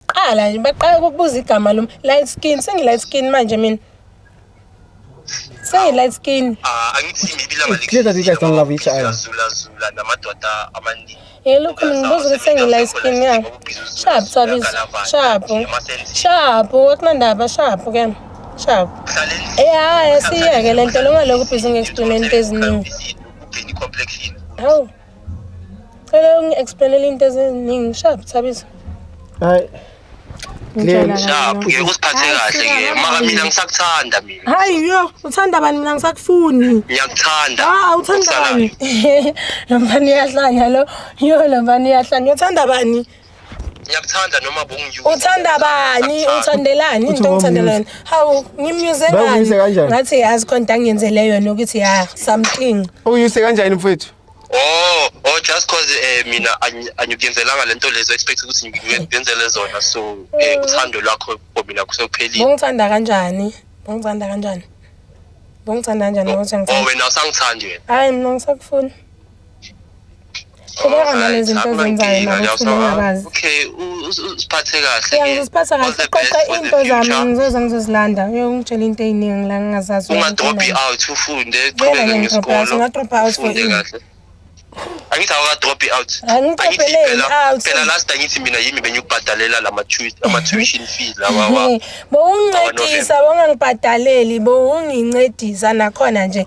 Qala nje baqala ukubuza igama lom light skin sengi light skin manje mina. Say light skin. Ah, angithi maybe lama It's clear that you guys don't love each other. Zula zula namadoda amaningi. Eh lokhu ngibuza ukuthi sengi light skin ya. Sharp sabis. Sharp. Sharp wakunandaba sharp ke. Sharp. Eh hayi siyeke lento loma lokhu busy ngextuneni eziningi. Hawu. Cela ungi-explainele into eziningi. Shap, Thabiso. Hayi. Ngitshela kahle Shaphu nonke. ngeke usiphathe Hayi, kahle sika, ke. Maka mina ngisakuthanda mina. Hayi yo, uthanda bani mina ngisakufuni. Ngiyakuthanda. Ah, uthanda Ukusalayo. bani? Lo mfana uyahlanya lo. Yo, lo mfana uyahlanya. Uthanda bani? ngiyakuthanda noma bongiyuza uthanda bani uthandelani into ngithandelani hawu ngimyuze ngani ngathi yazi khona into angiyenzele yona ukuthi ya something uyuse kanjani mfowethu oh oh just cause eh mina angikuyenzelanga lento lezo expect ukuthi ngiyenzele zona so eh uthando lwakho for mina kusephelile ungithanda kanjani ungithanda kanjani ungithanda kanjani oh, ngokuthi ngithanda oh, wena usangithandi wena hayi mina ngisakufuna qhubeka nalezi zinto ozenzayo nakuthula ungakazi okay usiphathe kahle ke usiphatha kahle qoqa into zami ngizoze ngizozilanda uyongitshela into eziningi la ngingazazi unga drop out ufunde qhubeka ngesikolo unga drop out for you angithi awuka drop out angithi phela phela last angithi mina yimi benyukubhadalela lama ama tuition fee lawa wa bowungincedisa bongangibhadaleli bowungincedisa nakhona nje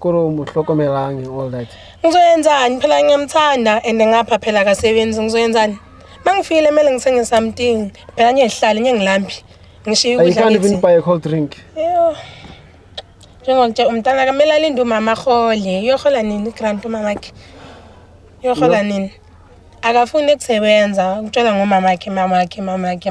Koro muhlokomelangi all that. Ngizoyenzani phela ngiyamthanda and ngapha phela akasebenzi ngizoyenzani? Mangifile mele ngithenge something. Phela ngiyehlala ngiyengilambi. Ngishiya ukudla. I can't even buy a cold drink. Yeah. Njengokuthi umntana kamele alinde umama khole. Uyohola nini grant umama wakhe? Uyohola nini? Akafuni ukusebenza, ukutshela ngomama wakhe, mama wakhe, mama wakhe.